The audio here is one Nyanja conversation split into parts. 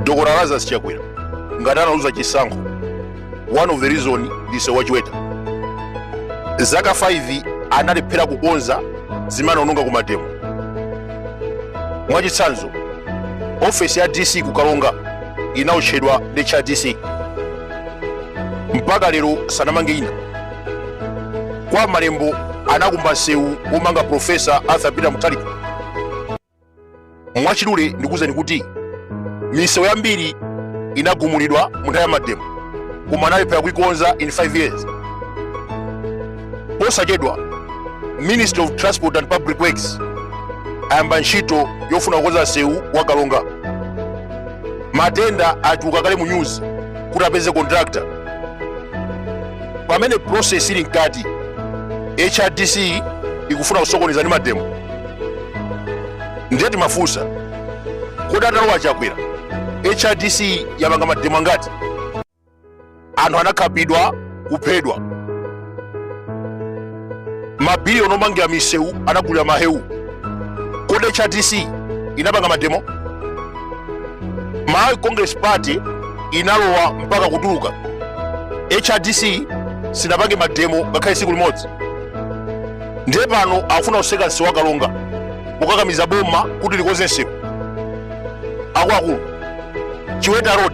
dr lazarus chakwera ngati analuza chisankho one of the reason ndi nsewu wa chiweta zaka 5 analephera kukonza zimene anaononga ku mademo mwachitsanzo ofesi ya dc ku karonga inaotchedwa ndi cha dc mpaka lero sanamange ina kwa malembo anakumba nsewu womanga profesa arthur peter mutharika mwachidule ndikuwuzani kuti misewu yambiri inagumulidwa mu nthawi ya mademo koma analephera kuikonza in 5 years posachedwa ministry of transport and public works ayamba ntchito yofuna kukonza nsewu wa karonga ma tender atuluka kale mu news kuti apeze contractor pamene process ili mkati hrdc ikufuna kusokoneza ndi mademo ndiye timafunsa kodi atalowa chakwera hrdc yapanga mademo angati anthu anakhapidwa kuphedwa mabiliyoni omangira misewu anagulira mahewu kodi hrdc inapanga mademo malawi congress party inalowa mpaka kutuluka hrdc sinapange mademo ngakhale tsiku limodzi ndiye pano akufuna kutseka msewu wa karonga kukakamiza boma kuti likonze msewu akuluakulu chiweta road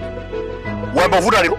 wayamba kuvuta lero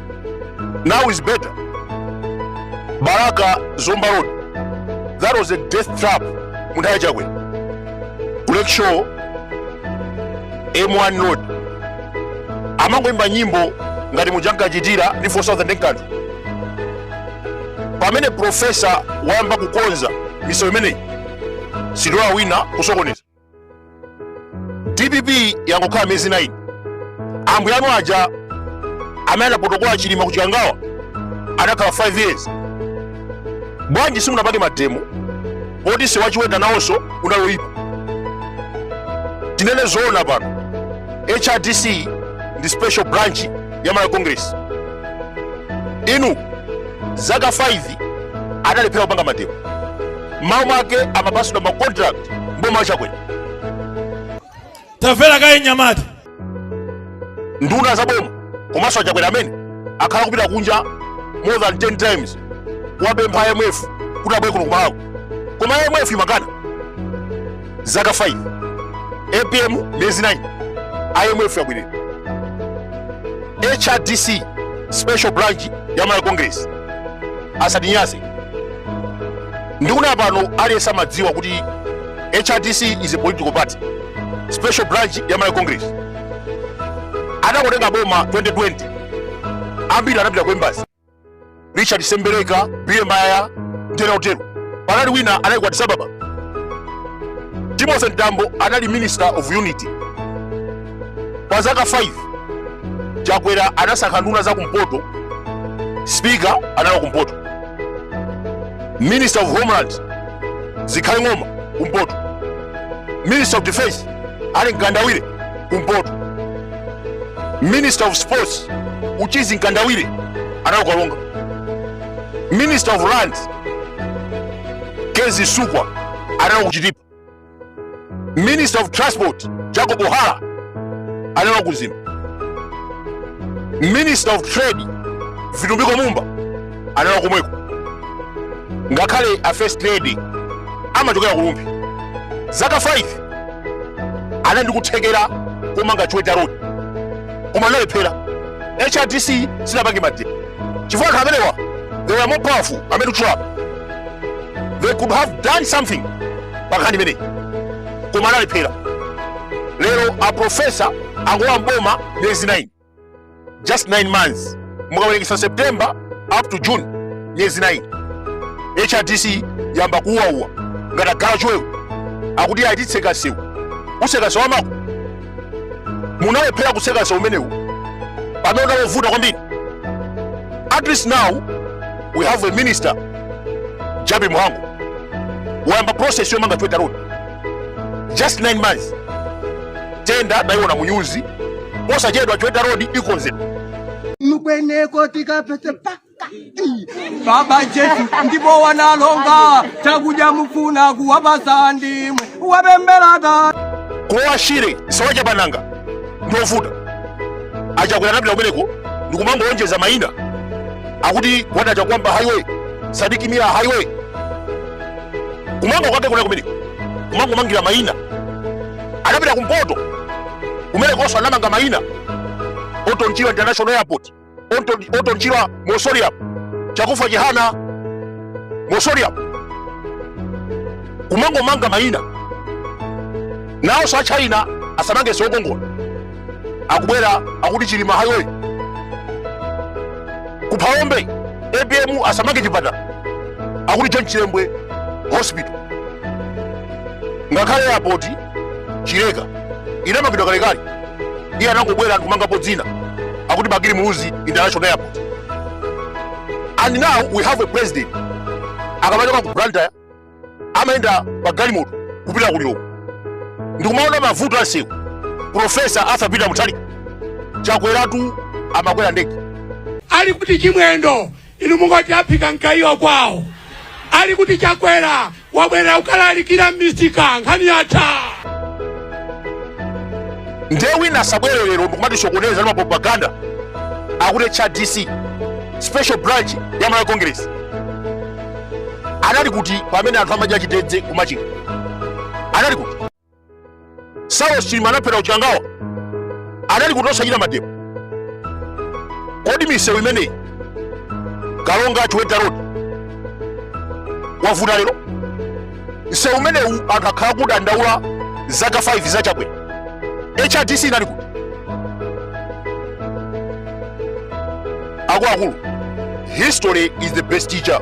Now is better. Balaka Zomba Road. That was a death trap. Munthawi ya Chakwera. Lakeshore M1 Road. Amangoimba nyimbo ngati muja ankachitira ndi 4000 nkanthu. Pamene profesa wayamba kukonza misewu imeneyi sitilola wina kusokoneza. dpp yangokhala miyezi 9 ambuye anu aja amene anapotokola chilima ku chikangawa anakhala 5 years bwanji simunapange mademo poti nsewu wa chiweta nawonso unaloyipa tinene zoona pano hrdc ndi special branch ya malawi congress inu zaka 5 adalephera kupanga mademo mmawa mwake amapatsidwa ma contract mboma wa chakwera tamvera kaye mnyamata nduna za boma komanso achakwera amene akhala kupita kunja more than 10 times kuwapempha imf kuti abwere kuno kumalawi koma imf imakana zaka 5 apm miyezi 9 imf yabwerera hrdc special branch ya malawi congress asatinyanse ndikunena pano aliyense amadziwa kuti hrdc is a political party special branch ya malawi congress atangotenga boma 2020 ambiri anapita ku embassy richard sembereka billy mayaya ndi ena otero panali wina anali ku addis ababa timothy mtambo anali minister of unity pa zaka 5 chakwera anasankha nduna za kumpoto speaker anali wa kumpoto minister of homeland zikhale ng'oma kumpoto minister of defense ali mkandawire kumpoto minister of sports uchizi mkandawire anali ku karonga minister of lands kezzie msukwa anali ku chitipa minister of transport jacob hara anali ku mzimba minister of trade vitumbiko mumba anali komweko ngakhale a first lady amachokera ku rumphi zaka 5 anali ndi kuthekera komanga chiweta road koma analephera hrdc sinapange mademo chifukwa anthu amenewa they were more powerful amene kutchula they could have done something pa nkhani imeneyi koma analephera lero aprofesa angolowa mboma miyezi 9 just 9 months mukawerengetsa september up to june miyezi 9 hrdc yamba kuuwauwa ngati agalu achiwewe akuti ayi titseka msewu utseka msewu wa amako munalephera kutseka msewu umenewu pamene unali ovuta kwambiri at least now we have a minister jappie mhango wayamba process yomanga chiweta road just 9 months tender ndaiona munyuzi posachedwa chiweta road ikonzedwa mukweneko tikapete paka baba jesu ndipo wanalonga chakudya mufuna kuwapasa ndimwe wapembelata ku lower shire si wa chapananga ndi ovuta achakwera anapita kumeneko ndikumangolonjeza maina akuti gwanda chakuamba highway sidik mia highway kumanga kwake kuna kumeneko kumangomangira mayina anapita kumpoto kumenekonso anamanga mayina orton chirwa international airport Orton- orton chirwa mausoleum chakufa chihana mausoleum kumangomanga mayina nawo sa china asamange siokongola akubwera akuti chilima highway ku phalombe apm asamange chipatala akuti john chilembwe hospital ngakhale airport chileka inamangidwa kalekale iye anangobwera nkumangapo dzina akuti bakili muluzi international airport and now we have a president akamachoka ku blantyre amayenda pa galimoto kupita ku lilongwe ndikumaona mavuto a msewu profesa arthur peter mutharika chakweratu amakwera ndege ali kuti chimwendo inu munkati aphika mkaiwa kwawo ali kuti chakwera wabwerera ukalalikire m'misika nkhani yatha ndiye wina asabwere lero ndikumatishokoneza ndi mapropaganda akuti cha dc special branch ya malawi congress anali kuti pamene anthu amadya chitedze ku machinga anali kuti saulos chilima anaphedwa ku chikangawa anali kuti osachita mademo kodi misewu imeneyi karonga chiweta rodi wavuta lero msewu umenewu anthu akhala akudandaula zaka 5 za chakwera hrdc inali kuti akuluakulu history is the best teacher